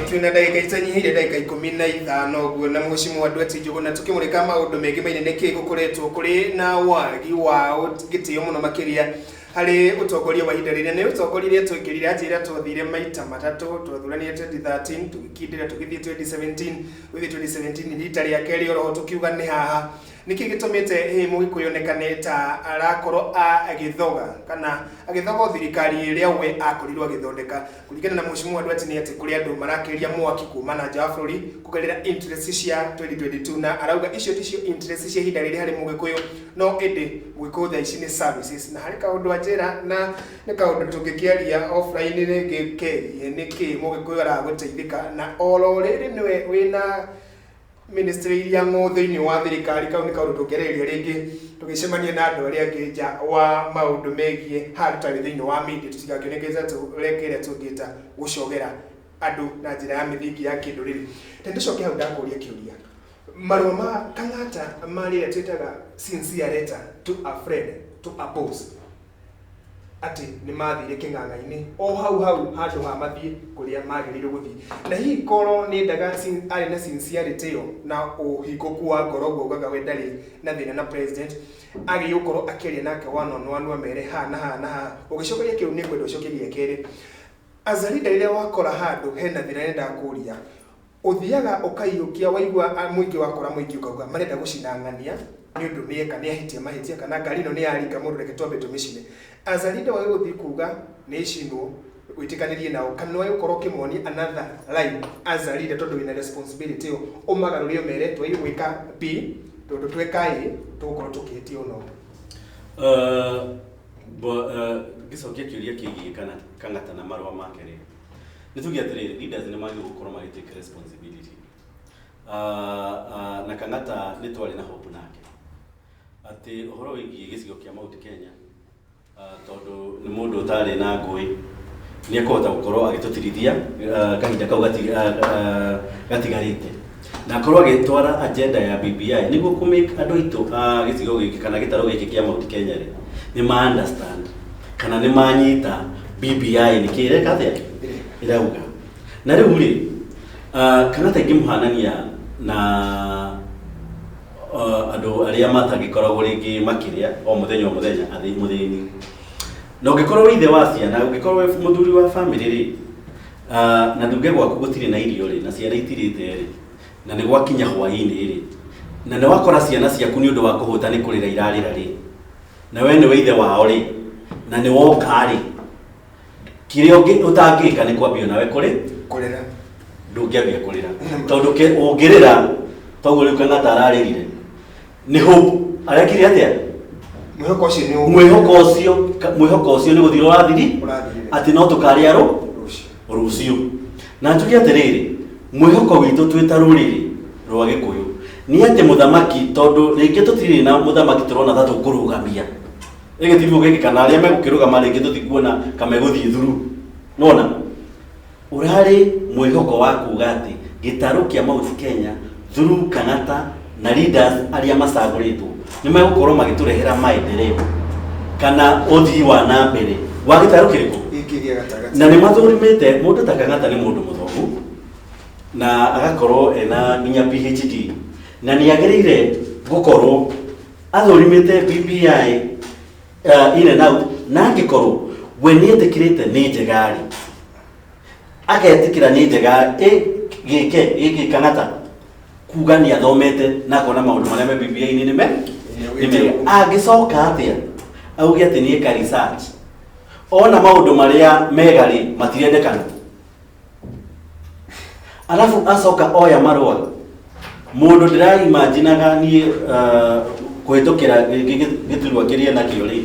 twina ndagika itanyihire ndagika ikumi na ithano guo na muci mwandu ati njugu na tukimurika maundu mengi mainene ki gukoretwo kuri na wagi wa gitio muno makiria hari utongoria wa ihinda rĩrĩa nĩ utongoria iria twekĩrire atĩ ĩrĩa twathire maita matatũ twathuranire 2013 tũgĩkindĩra tũgĩthiĩ 2017 gũthiĩ 2017 rita rĩa kerĩ oroho tũkiuga nĩ haha Nĩkĩ gĩtũmĩte hihi Mũgĩkũyũ onekane ta arakorwo agĩthoga kana agĩthoga o thirikari ĩrĩa we akorirwo agĩthondeka? Kũringana na Mũheshimiwa Nduati nĩ atĩ kũrĩ andũ marakĩria mwaki kuma na nja wa bũrũri kũgerera interest cia 2022 na arauga icio ticio interest cia ihinda rĩrĩ harĩ Mũgĩkũyũ no ĩndĩ Mũgĩkũyũ thaa ici nĩ services. Na harĩ kaũndũ anjĩra na nĩ kaũndũ tũngĩkĩaria offline rĩngĩ kegiĩ nĩkĩ Mũgĩkũyũ araga gũteithĩka na oro rĩrĩ nĩwe wĩna ministry iria ng'ũ thĩinĩ wa thirikari kau nĩ kaũndũ tũngĩarĩrĩria rĩngĩ tũgĩcemania na andũ arĩa angĩ nja wa maũndũ megiĩ handũ tarĩ thĩinĩ wa media tũtigakĩonekete tũreka ĩrĩa tũngĩta gũcogera andũ na njĩra ya mĩthingi ya kĩndũrĩrĩ na ndĩcoke hau ndakũria kĩũria marũa ma kang'ata ma rĩrĩa twĩtaga sincere letter to a friend to a boss atĩ nĩ maathire kĩng'ang'a-inĩ o hau hau handũ ha mathiĩ kũrĩa maagĩrĩirwo gũthiĩ. Na hihi korwo nĩ endaga sin- arĩ na sincerity ĩyo na ũhingũku wa ngoro ũguo augaga we ndarĩ na thĩna na president, agĩrĩirwo gũkorwo akĩaria nake one on one amere haha na haha na haha. Ũgĩcokeria kĩu nĩ ngwenda ũcokie gĩa kerĩ. As a leader rĩrĩa wakora handũ hena thĩna nĩ nyendaga kũria, Ũthiaga ũkaiyũkia waigua mũingĩ wakora mũingĩ ũkauga marenda gũcina ng'ania nĩ ũndũ nĩ eka nĩ ahĩtia mahĩtia kana ngari ĩno nĩ ya ringa mũndũ reke twambe tũmĩcine. Aca Linda wagĩrĩirwo gũthiĩ kuga nĩ ĩcinwo wĩtĩkanĩrie nao kana nĩ wagĩrĩirwo gũkorwo ũkĩmonia another line as a leader tondũ wĩna responsibility ĩyo ũmagarũre ũmere nĩ twagĩrĩirwo gwĩka B tondũ tweka A tũgũkorwo tũkĩhĩtia ũna ũna. Ngĩcokia kĩũria kĩgiĩ kana kana marũa make rĩ nĩ tuge atĩrĩrĩ leaders nĩ magĩrĩirwo gũkorwo magĩ take responsibility uh, uh, na kang'ata nĩ twarĩ na hope nake atĩ ũhoro wĩgiĩ gĩcigo kĩa mount kenya uh, tondũ nĩ mũndũ ũtarĩ na ngũĩ nĩ ekũhota gũkorwo agĩtũtirithia uh, kahinda kau gati- uh, uh, gatigarĩte na akorwo agĩtwara agenda ya BBI nĩguo kũ make andũ aitũ a gĩcigo gĩkĩ kana gĩtarũ gĩkĩ kĩa Mount Kenya rĩ nĩ ma understand kana nĩ manyita BBI nĩ kĩ ĩreka atĩa ĩrauga na rĩu rĩ ah, kana ta ingĩmũhanania na ah, andũ arĩa matangĩkoragwo rĩngĩ makĩrĩa o mũthenya o mũthenya athĩ mũthĩni na ũngĩkorwo wĩ ithe wa ciana ũngĩkorwo wĩ mũthuri wa bamĩrĩ rĩ Ah, na nduge gwaku gũtirĩ na irio rĩ na ciana itirĩte rĩ na nĩ gwakinya hwaĩ-inĩ rĩ na nĩ wakora ciana ciaku nĩ ũndũ wa kũhũta nĩ kũrĩra irarĩra rĩ na we nĩwe ithe wao rĩ na nĩ woka rĩ kĩrĩa ũngĩ- ũtangĩka nĩ kwambia nawe kũrĩ kũrĩra ndũngĩambia kũrĩra tondũ ke- ũngĩrĩra toguo rĩu kana tararĩrire nĩ hope arekire atia mwĩhoko ũcio nĩ ũũ mwĩhoko ũcio ka- mwĩhoko ũcio nĩ gũthira ũrathiri Ũrathirire. atĩ no tũkarĩarwo rũciũ rũciũ na njuge atĩrĩrĩ mwĩhoko witũ twĩ ta rũrĩrĩ rwa gĩkũyũ nĩ atĩ mũthamaki tondũ rĩngĩ tũtirĩ na mũthamaki tũrona ta tũkũrũgamia ĩgĩtirwo gĩkĩ kana arĩa megũkĩrũgama rĩngĩ tũtikuona kamegũthiĩ thuru nona Ũrarĩ mwĩhoko wa kuuga atĩ gĩtarũ kĩa Mount Kenya through Kang'ata na leaders arĩa macagũrĩtwo nĩ megũkorwo magĩtũrehera maendeleo kana ũthii wa na mbere wa gĩtarũ kĩrĩkũ gĩkĩ gĩa gatagatĩ na nĩ mathũrimĩte mũndũ ta Kang'ata nĩ mũndũ mũthomu na agakorwo ena nginya PhD na nĩ agĩrĩire gũkorwo athũrimĩte BBI uh, in and out na angĩkorwo we nĩ etĩkĩrĩte nĩ njega-rĩ agetĩkĩra nĩ njega ĩ gĩke gĩkĩ kana ta kuga nĩ athomete na akona maũndũ marĩa me bibilia-inĩ nĩ me nĩ mega angĩcoka atĩa auge atĩ nĩ eka research ona maũndũ marĩa mega-rĩ matirendekana arabu acoka oya marũa mũndũ ndĩraimajinaga niĩ ah, kũhĩtũkĩra gĩ- gĩ- gĩ- gĩturwa kĩrĩa nakĩo rĩ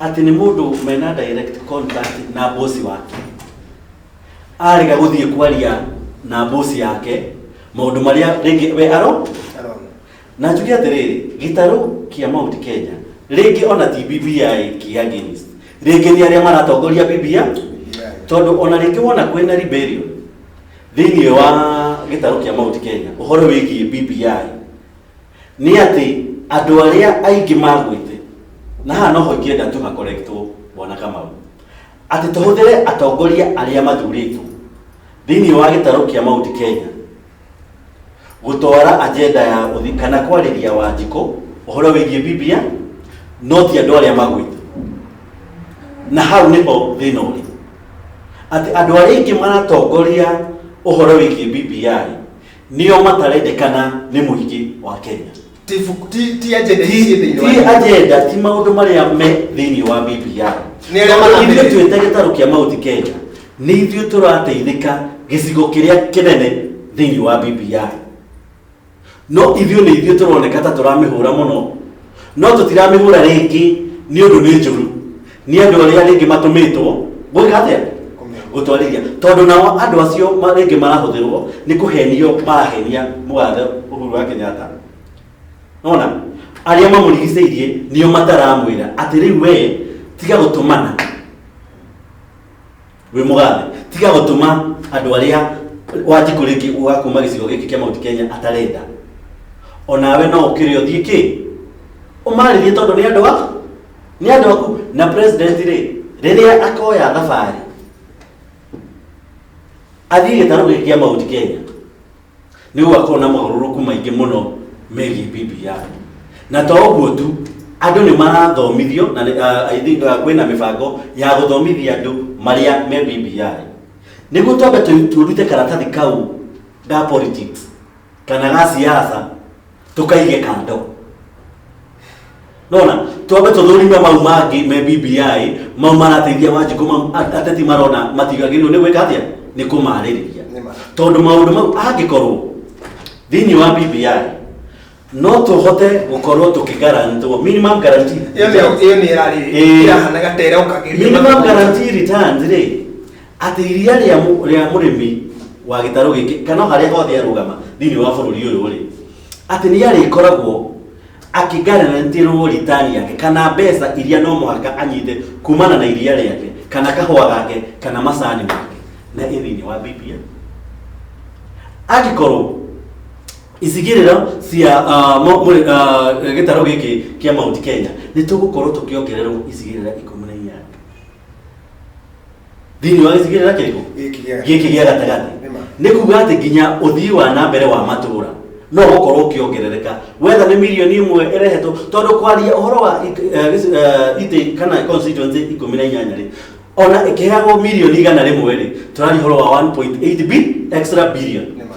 atĩ nĩ mũndũ mena direct contact na bosi wake arega gũthiĩ kwaria na bosi yake maũndũ marĩa rĩngĩ we aro Arona. Na njuge atĩrĩrĩ, gĩtarũ kĩa Mount Kenya, rĩngĩ ona ti BBI ki against, rĩngĩ nĩ arĩa maratongoria BBI, tondũ ona rĩngĩ wona kwĩna rebellion thĩinĩ wa gĩtarũ kĩa Mount Kenya, ũhoro wĩgiĩ BBI, nĩ atĩ andũ arĩa aingĩ magwĩte, na haha noho ingĩenda tu ha correctwo bwana Kamau, atĩ tũhũthĩre atongoria arĩa mathurĩtwo thĩinĩ wa gĩtarũ kĩa Mount Kenya, gũtwara agenda ya ũthi kana kwarĩria wanjikũ ũhoro wĩgiĩ biblia no ti andũ arĩa magwĩte na hau nĩho thĩna ũrĩ atĩ andũ arĩa aingĩ maratongoria ũhoro wĩgiĩ biblia nĩo matarendekana nĩ mũingĩ wa kenya ti buku- ti- ti agenda ici ciĩ thĩinĩ wa ti Bibilia. agenda ti maũndũ marĩa me thĩinĩ wa bibilia Nĩ arĩa Tondũ ithuĩ maramenya. twĩta gĩtarũ kĩa mauti kenya nĩ ithuĩ tũrateithĩka gĩcigo kĩrĩa kĩnene thĩinĩ wa bibilia no ithuĩ nĩ ithuĩ tũroneka ta tũramĩhũra mũno no tũtiramĩhũra rĩngĩ nĩ ũndũ nĩ njũru nĩ andũ arĩa rĩngĩ matũmĩtwo gwĩka atĩa gũtwarĩria tondũ nao andũ acio ma- rĩngĩ marahũthĩrwo nĩ kũhenio marahenia mũgathe ũhuru wa kenyatta nona arĩa mamũrigicĩirie nĩo mataramwĩra atĩ rĩu wee tiga gũtũmana wĩ mũgathe tiga gũtũma andũ arĩa wanjikũ rĩngĩ wakuma gĩcigo gĩkĩ kĩa mount kenya atarenda onawe no ũkĩrĩ ũthiĩ kĩ ũmarĩrie tondũ nĩ andũ aku nĩ andũ aku na president rĩ rĩrĩa akoya thabarĩ athiĩ gĩtarũ gĩkĩ kĩa mount kenya nĩ gũgakorwo na mogarũrũku maingĩ mũno megiĩ Biblia. Na to ũguo tu, andũ nĩ marathomithio na nĩ- ah, I think, ah, kwĩna mĩbango ya gũthomithia andũ marĩa me Biblia. Nĩguo twambe tũ- tũrute karatathi kau ga politics kana ga siasa tũkaige kando nona twambe tũthũrime mau mangĩ me bbi mau marateithia wanjikũ mau at- ateti marona matigagĩrĩirwo nĩ gwĩka atĩa nĩ kũmarĩrĩria Nĩ ma. tondũ maũndũ mau angĩkorwo thĩinĩ wa bbi no tũhote gũkorwo tũkĩgarantwo minimum guarantee ĩyo nĩ- ĩyo nĩ ĩrarĩ Ĩĩ. ĩrahanaga ta ĩrokagĩria minimum guarantee returns rĩ atĩ iria rĩa mũ- rĩa mũrĩmi wa gĩtarũ gĩkĩ kana o harĩa hothe arũgama thĩinĩ wa bũrũri ũyũ rĩ atĩ nĩ arĩkoragwo akĩngaranĩtĩrwo ritani yake kana mbeca iria no mũhaka anyite kumana na iria rĩake kana kahũa gake kana macani make na ĩ thĩinĩ wa BPA angĩkorwo icigĩrĩra cia ah, mo- mũrĩ- ah, gĩtarũ gĩkĩ kĩa Mount Kenya nĩ tũgũkorwo tũkĩongererwo icigĩrĩra ikũmi na inyanya thĩinĩ wa gĩcigĩrĩ na kĩrĩkũ Gĩkĩ gĩa gatagatĩ. gĩkĩ gĩa gatagatĩ Nĩ ma. nĩ kuga atĩ nginya ũthii wa na mbere wa matũũra no gũkorwo ũkĩongerereka wetha nĩ mirioni ĩmwe ĩrehetwo tondũ kwaria ũhoro wa it- eh, gĩci- eh, itĩ kana constituency ikũmi na inyanya rĩ ona ĩkĩheagwo mirioni igana rĩmwe rĩ tũraria ũhoro wa 1.8 bi extra billion Nĩ ma.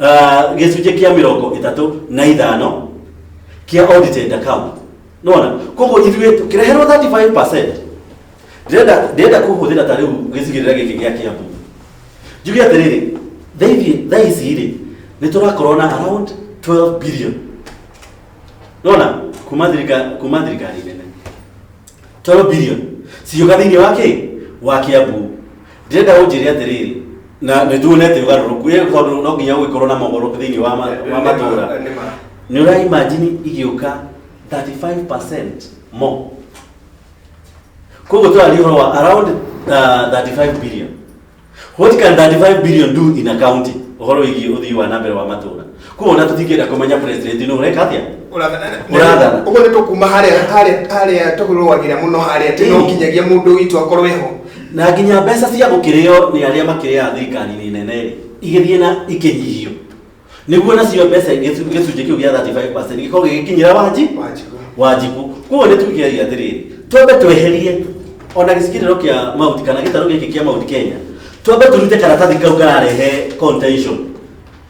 Ah, gĩcunjĩ kĩa mĩrongo ĩtatũ na ithano kĩa audited account nona koguo ithuĩ tũkĩreherwo 35 ndĩrenda ndĩrenda kũhũthĩra ta rĩu gĩcigĩrĩra gĩkĩ gĩa kĩambu njuge atĩrĩrĩ thaithi thaa ici rĩ nĩ tũrakorwo na around 12 billion nona kuma thirika kuma thirikari nene 12 billion ciũga thĩinĩ wa kĩ wa kĩambu ndĩrenda ũnjĩre atĩrĩrĩ na nĩ tuonete ũgarũrũku ĩ tondũ no nginya gũgĩkorwo na mogoro thĩinĩ wa ma- wa matũũra Nĩ ma. nä å raimajini igĩũka 35 mo koguo tåraria å horo wa around uh, 35 billion what can 35 billion do in a county å horo wĩgiä å thii wa na mbere wa matå ra koguo ona tũtingĩenda kũmenya president nĩ ũreka atĩa Ũrathana. ũguo nĩ tũkuma harĩa harĩa harĩa tũrũagĩra mũno harĩa tĩ no Ĩĩ. nginyagia mũndũ witũ akorwo eho na nginya mbeca cia gũkĩrĩo nĩ arĩa makĩrĩaga thirikari-inĩ nene rĩ igĩthiĩ na ikĩnyihio nĩguo nacio mbeca gĩcu- gĩcunjĩ kĩu gĩa 35 gĩkorwo gĩgĩkinyĩra wanji Wanjikũ. wanjiku koguo nĩ tũgĩagia atĩrĩrĩ twambe tweherie ona gĩcigĩrĩro kĩa mauti kana gĩtarũ gĩkĩ kĩa mauti kenya twambe tũrute karatathi kau kararehe contention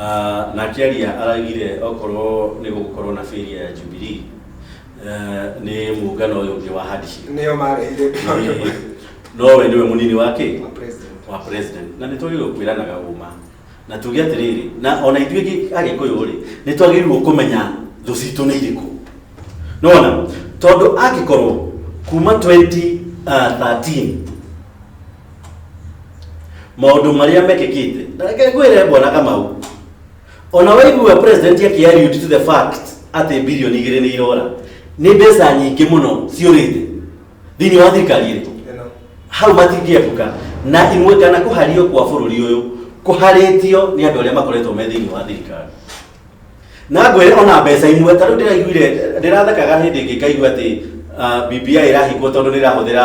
Ah, na akĩaria aragire okorwo nĩ gũgũkorwo na bĩria ya jubilii ah, nĩ mũngano ũyũ ũngĩ wa handshake nĩo marehire Nĩ- nowe nĩwe mũnini wake Wa president. wa president na nĩ twagĩrĩirwo kwĩranaga ũma na tuge atĩrĩrĩ na ona ithuĩ gĩ- agĩkũyũ rĩ nĩ twagĩrĩirwo kũmenya thũ citũ nĩ irĩkũ nona tondũ angĩkorwo kuma 2013 maũndũ marĩa mekĩkĩte na reke ngwĩre bwana kamau ona waigua president akĩariũti to the fact atĩ bilioni igĩrĩ nĩ irora nĩ mbeca nyingĩ mũno ciũrĩte thĩinĩ wa thirikari ĩrĩkũ Ĩno. hau matingĩebuka na imwe kana kũhario kwa bũrũri ũyũ kũharĩtio nĩ andũ arĩa makoretwo me thĩinĩ wa thirikari na ngwĩre ona mbeca imwe ta rĩu ndĩraiguire ndĩrathekaga hĩndĩ ĩngĩ ngaigua atĩ ah, BBI ĩrahingwo tondũ nĩ ĩrahũthĩra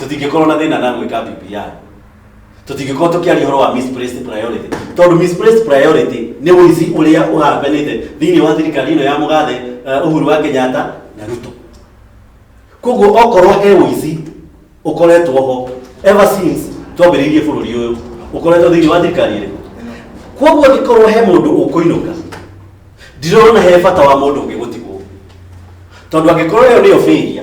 tũtingĩkorwo na thĩna na gwĩka BBI tũtingĩkorwo tũkĩaria ũhoro wa misplaced priority tondũ misplaced priority nĩ ũici ũrĩa ũhambanĩte thĩinĩ wa thirikari ĩno ya mũgathe eh, Uhuru wa Kenyatta na Ruto koguo okorwo he ũici ũkoretwo ho ever since twambĩrĩirie bũrũri ũyũ ũkoretwo thĩinĩ wa thirikari ĩrĩkũ koguo angĩkorwo he mũndũ ũkũinũka ndirona he bata wa mũndũ ũngĩ gũtigwo tondũ angĩkorwo ĩyo nĩyo failure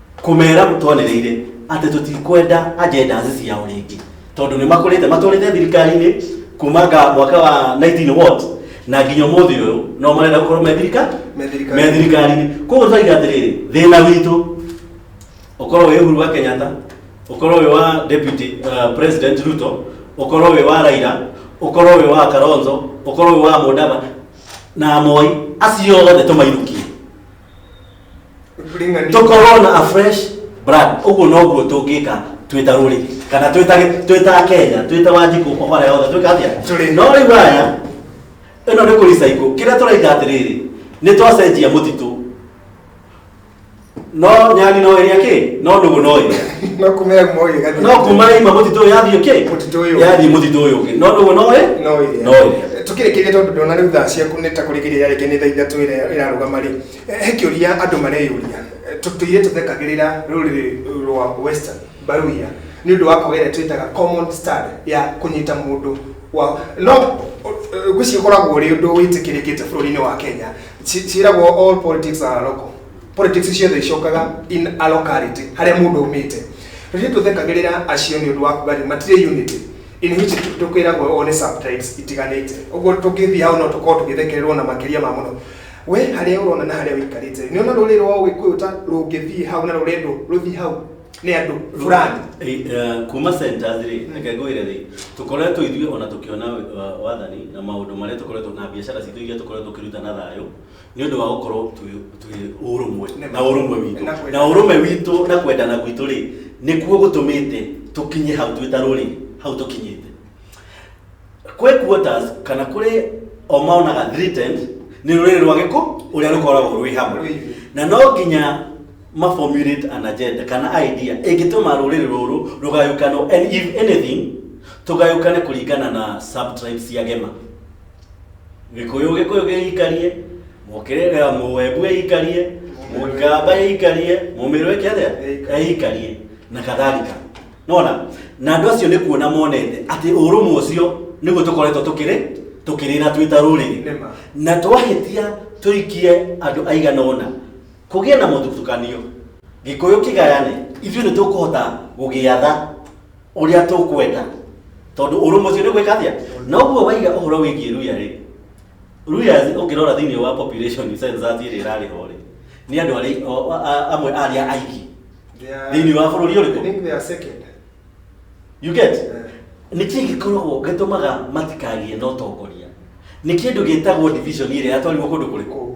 kũmera mũtwanereire atĩ tũtikwenda agendas ciao rĩngĩ tondũ nĩ makũrĩte matwarĩte thirikari-inĩ kuma nga mwaka wa 19 what na nginya ũmũthĩ ũyũ no marenda gũkorwo me thirika- Me thirikari. me thirikari-inĩ koguo twaiga atĩrĩrĩ thĩna witũ ũkorwo wĩ Uhuru wa Kenyatta ũkorwo wĩ wa deputy uh, president Ruto ũkorwo wĩ wa Raila ũkorwo wĩ wa Kalonzo ũkorwo wĩ wa Mudava na Moi acio othe tũmainũkie tũkorwo na a fresh brand ũguo noguo tũngĩka twĩta rũrĩ kana twĩta twĩta kenya twĩta wanjikũ obara yothe twĩka atĩa Tũrĩ. no rĩu aya ĩno nĩ kũricaikũ kĩrĩa tũraika atĩrĩrĩ nĩ twacenjia mũtitũ no nyani no ĩrĩa kĩ no nũgũ no ĩrĩa no kumea moyo gati no kuma ima mũtitũ ũyũ yathiĩ kĩ Mũtitũ ũyũ. yathiĩ mũtitũ ũyũ ũngĩ no nũgũ no ĩ no ĩrĩa. no ĩrĩa Tũkĩrĩkĩria tondũ ndona rĩu thaa ciaku nĩ ta kũrĩkĩria yarĩkia nĩ thaa ithatũ ĩrĩa ĩrarũgama rĩ, eh, he kĩũria andũ mareyũria. Eh, tũ- Tũirĩtu thekagĩrĩra rũrĩrĩ rwa Western Baluhya nĩ ũndũ wa kwaga ĩrĩa twĩtaga common stud ya kũnyita mũndũ wa no eh, ngwĩciria ũkoragwo ũrĩ ũndũ wĩtĩkĩrĩkĩte bũrũri-inĩ wa Kenya Ci- ciĩragwo all politics are local politics ciothe icokaga in a locality harĩa mũndũ aumĩte rĩrĩa tũthekagĩrĩra acio nĩ ũndũ wa kuga atĩ matirĩ unity in which tukwiragwo ũguo nĩ subtypes itiganĩte ũguo tũngĩthiĩ hau no tũkorwo tũgĩthekererwo na makĩria ma mũno we harĩa ũrona na harĩa ũikarĩte nĩ ona rũrĩrĩ rwa ũgĩkũyũ ta rũngĩthiĩ hau na rũrendwo rũthiĩ hau nĩ andũ fulani Eh, eh, kuma centers rĩ reke ngwĩre rĩ tũkoretwo ithuĩ ona tũkĩona eh, wathani na maũndũ marĩa tũkoretwo na biacara citũ iria tũkoretwo tũkĩruta na thayũ nĩ ũndũ wa gũkorwo twĩ ũrũmwe na ũrũmwe witũ na ũrũmwe witũ na kwendana gwitũ rĩ nĩkuo gũtũmĩte tũkinye hau twĩ ta rũrĩ hau tũkinyĩte kwĩ quotas kana kũrĩ o maonaga threatened nĩ rũrĩrĩ rwa gĩkũ ũrĩa rũkoragwo rwĩ hamwe na no nginya maformulate an agenda kana idea ĩngĩtũma rũrĩrĩ rũrũ rũgayũkanwo and if anything tũgayũkane kũringana na subtribes cia gema gĩkũyũ gĩkũyũ gĩikarie mũkĩrĩrĩ ya mũwembu ĩikarie mũgĩkamba ĩikarie mũmĩrũ ĩke atĩa ĩikarie na kadhalika nona na andũ acio nĩ kuona monete atĩ ũrũmwe ũcio nĩguo tũkoretwo tũkĩrĩ tũkĩrĩra twĩ ta rũrĩrĩ Nĩma. na twahĩtia tũikie andũ aigana ũna kũgĩe na mũthutũkanio gĩkũyũ kĩgayane ithuĩ nĩ tũkũhota gũgĩatha ũrĩa tũkwenda tondũ ũrũmwe ũcio nĩ gwĩka atĩa na ũguo waiga ũhoro wĩgiĩ ruya rĩ ruya ũngĩrora thĩinĩ wa population census ĩrĩa ĩrarĩ ho rĩ nĩ andũ arĩa o- a- a- amwe a arĩa aingĩ Thĩinĩ wa bũrũri ũrĩkũ? I think they are second. you get Eh. nĩ kĩĩ gĩkoragwo gĩtũmaga matikagĩe na ũtongoria nĩ kĩndũ gĩtagwo division ĩrĩa yatwarirwo kũndũ kũrĩkũ Kũu.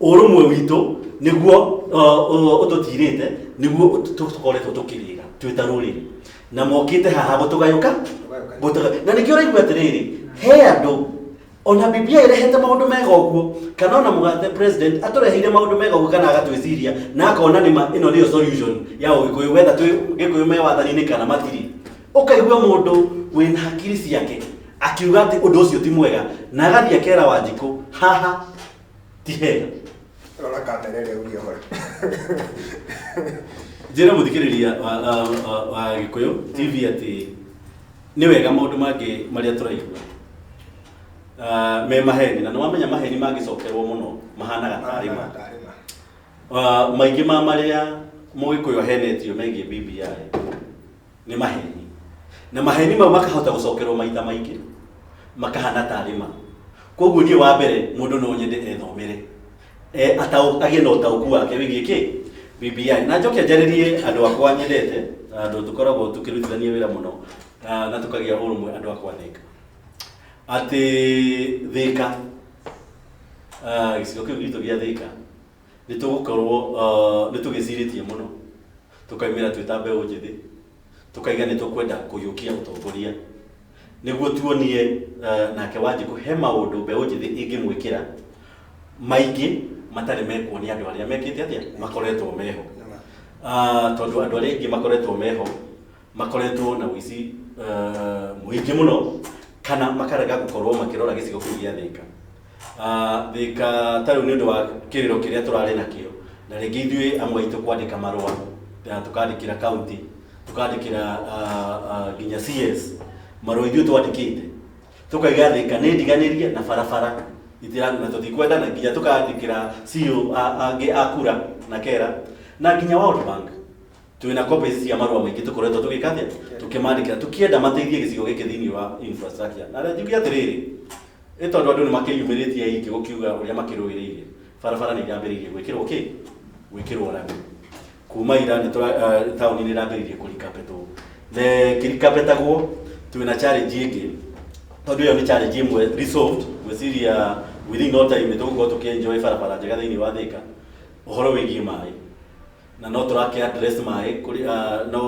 ũrũmwe witũ nĩguo ũtũtirĩte nĩguo tũkoretwo tũkĩrĩra twĩ ta rũrĩrĩ na mokĩte haha gũtũgayũka na nĩkĩo ũraigua atĩrĩrĩ he andũ ona biblia ĩrehete maũndũ mega ũguo kana ona mũgathe president atũreheire maũndũ mega ũguo kana agatwĩciria na akona nĩma ĩno nĩyo solution ya ũgĩkũyũ wetha twĩ gĩkũyũ me wathani-inĩ kana matirĩ ũkaigua mũndũ wĩna hakiri ciake akiuga atĩ ũndũ ũcio ti mwega na agathiĩ akera wanjikũ haha ti hega rora kamera ĩrĩa ũria hore njĩra mũthikĩrĩria wa, wa, wa, wa gĩkũyũ tv atĩ nĩ wega maũndũ mangĩ marĩa tũraigua Ah, me maheni na nĩwamenya maheni mangĩcokerwo mũno mahanaga tarĩ ma Ah, maingĩ ma marĩa mũgĩkũyũ ahenetio megiĩ bbi nĩ maheni na maheni mau makahota gũcokerwo maita maingĩ makahana tarĩ ma koguo niĩ wa mbere mũndũ no nyende ethomere Eh, atau- agĩe na ũtaũku wake wĩgiĩ kĩ BBI na njoke njarĩrie andũ akwa nyendete na andũ tũkoragwo tũkĩrutithania wĩra mũno na na tũkagĩa ũrũmwe andũ akwa thĩka atĩ thĩka ah, gĩcigo kĩu gitũ gĩa thĩka nĩ tũgũkorwo uh, nĩ tũgĩcirĩtie mũno tũkaimĩra twĩ ta mbeũ njĩthĩ tũkaiga nĩ tũkwenda kũhiũkia ũtongoria nĩguo tuonie uh, nake wanjikũ he maũndũ mbeũ njĩthĩ ĩngĩmwĩkĩra maingĩ matarĩ mekwo nĩ andũ arĩa mekĩte atĩa makoretwo meho Ah, tondũ andũ arĩa aingĩ makoretwo meho makoretwo na ũici eh, mũingĩ mũno kana makarega gũkorwo makĩrora gĩcigo kĩu gĩa thĩka Ah, thĩka ta rĩu nĩ ũndũ wa kĩrĩro kĩrĩa tũrarĩ nakĩo na rĩngĩ ithuĩ amwe aitũ kwandĩka marũa na tũkandĩkĩra kaunti tũkandĩkĩra ah, ah, nginya cs marũa ithuĩ twandĩkĩte tũkaiga thĩka nĩ ndiganĩrie na barabara itira- na tũtikwenda na nginya tũkandĩkĩra CEO a- angĩ a kura na kera na nginya World Bank twĩ na copies cia marũa maingĩ tũkoretwo tũgĩka atĩa tũkĩmandĩkĩra tũkĩenda mateithie gĩcigo gĩkĩ thĩinĩ wa infrastructure na rĩa njuge atĩrĩrĩ ĩ tondũ andũ nĩ makĩyumĩrĩtie aingĩ gũkiuga ũrĩa makĩrũĩrĩire barabara nĩ irambĩrĩirie gwĩkĩrwo kĩ gwĩkĩrwo rami kuma ira nĩ tũra- eh, taũni nĩ ĩrambĩrĩirie kũrikapetwo na kĩrikapetagwo twĩ na challenge ĩngĩ tondũ ĩyo nĩ challenge ĩmwe resolved gwĩciria within no time nĩ tũgũkorwo tũkĩenjoy barabara njega thĩinĩ wa thĩka ũhoro wĩgiĩ maĩ na no tũrake address maĩ kũrĩ ah, no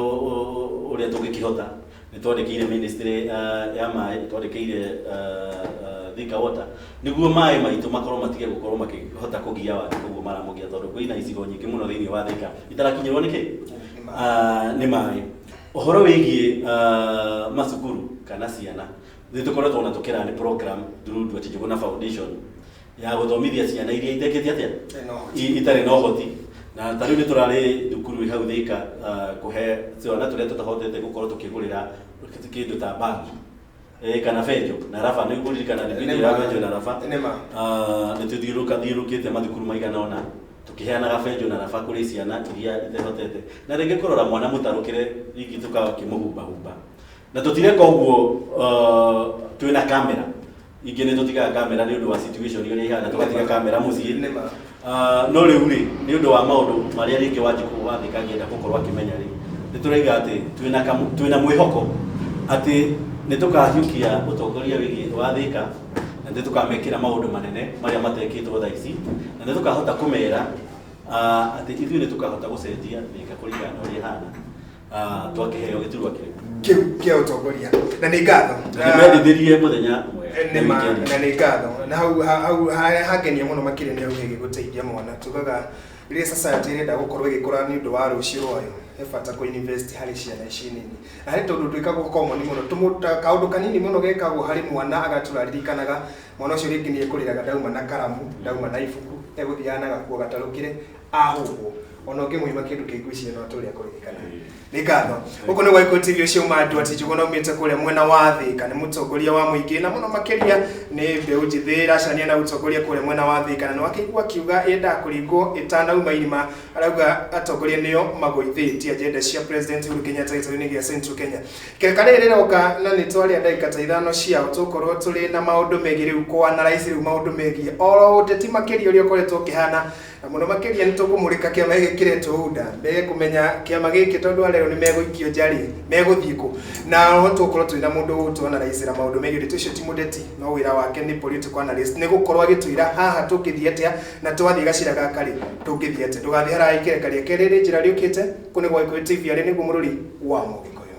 ũrĩa tũngĩkĩhota nĩ twandĩkĩire ministry ah, ya maĩ nĩ twandĩkĩire ah, ah, Thika water nĩguo maĩ maitũ makorwo matige gũkorwo makĩhota kũgia wagi koguo maramũgia tondũ kwĩna icigo nyingĩ mũno thĩinĩ wa Thika itarakinyĩrwo nĩkĩ Ah, nĩ maĩ ũhoro wĩgiĩ ah, macukuru kana ciana nĩ tũkoretwo na tũkĩra nĩ program through Ndwati Njũgũna Foundation ya gũthomithia ciana iria itekĩte atĩa I- itarĩ na ũhoti na ta rĩu nĩ tũrarĩ thukuru ĩ hau thĩka ah, kũhe twana tũrĩa tũtahotete gũkorwo tũkĩgũrĩra kĩndũ ta bangi Eh, kana benjo na raba nĩ ngũririkana Nĩ nĩgũithĩra ma. benjo na raba Nĩ ma. Ah, nĩ tũthiũrũka thiũrũkĩte mathukuru maigana ona tũkĩheanaga benjo na raba kũrĩ ciana iria itehotete na rĩngĩ kũrora mwana mũtarũkĩre rĩngĩ tũkakĩmũhumbahumba na tũtireka ũguo uh, twĩ na kamera ingĩ nĩ tũtigaga kamera nĩ ũndũ wa situation ũrĩa ihana tũgatiga kamera mũciĩ Nĩ ma. Ah, no rĩu rĩ nĩ ũndũ wa maũndũ marĩa rĩngĩ wanjikũ wathĩka angĩenda gũkorwo akĩmenya rĩ nĩ tũraiga atĩ twĩna kamu- twĩna mwĩhoko atĩ nĩ tũkahiũkia ũtongoria wĩgiĩ wathĩka na nĩ tũkamekĩra maũndũ manene marĩa matekĩtwo thaa ici na nĩ tũkahota kũmera ah, atĩ ithuĩ nĩ tũkahota gũcenjia thĩka kũringana na ũrĩa ĩhana Ah, twakĩheo gĩturwa kĩu kĩu kĩa ũtongoria na nĩ ngatho nĩmendithĩrie mũthenya ũmwe Eh, nĩ ma na weekend. nĩ ngatho na hau ha- hau harĩa hangenia mũno makĩria nĩ hau hĩgĩ gũteithia mwana tugaga rĩrĩa society ĩrenda gũkorwo ĩgĩkũra nĩ ũndũ wa rũciũ rwayo he bata kũ invest harĩ ciana ici nini na harĩ tondũ twĩkagwo common mũno tũmũ- ta- kaũndũ kanini mũno gekagwo harĩ mwana agatura ririkanaga mwana ũcio rĩngĩ nĩ ekũrĩraga ndauma na karamu ndauma na ibuku egũthiaga na gakuo gatarũkĩre ahũngwo ona ũngĩmũima kĩndũ kĩngĩ icio no atũrĩa kũririkana nĩ ngatho gũkũ nĩ gwaikũ tv ũcio uma andũ ati njũgũ na umĩte kũrĩa mwena wa thĩka nĩ mũtongoria wa mũingĩ na mũno makĩria nĩ mbeũ njĩthĩ ĩracania na ũtongoria kũrĩa mwena wa thĩka na nĩwakĩigua akiuga yendaga kũringwo ĩtanauma irima arauga atongoria nĩo magũithĩtie agenda cia president Uhuru Kenyatta gĩtarũ-inĩ gĩa Central Kenya kereka rĩrĩ rĩroka na nĩ twarĩa ndagĩka ta ithano ciao tũkorwo tũrĩ na maũndũ megiĩ rĩu kwana raici rĩu maũndũ megiĩ oro ũteti makĩria ũrĩa ũkoretwo ũkĩhana Na mũno makĩria nĩ tũkũmũrĩka kĩama gĩkĩ kĩretwo UNDA, mege kũmenya kĩama gĩkĩ tondũ arĩa nĩ megũikio nja rĩ, megũthiĩ kũ? Na oho tũgũkorwo twĩna mũndũ ũgũtũ analyse ra maũndũ megiĩ ũteti, ũcio ti mũteti no wĩra wake nĩ political analyst, nĩ gũkorwo agĩtwĩra haha tũngĩthiĩ atĩa, na twathiĩ gacĩra gaka rĩ, tũngĩthiĩ atĩa. Ndũgathiĩ haraya ikereka rĩa kerĩ rĩ njĩra rĩũkĩte, kũũ nĩ gwa Gĩkũyũ TV, arĩ nĩguo mũrũri wa Mũgĩkũyũ.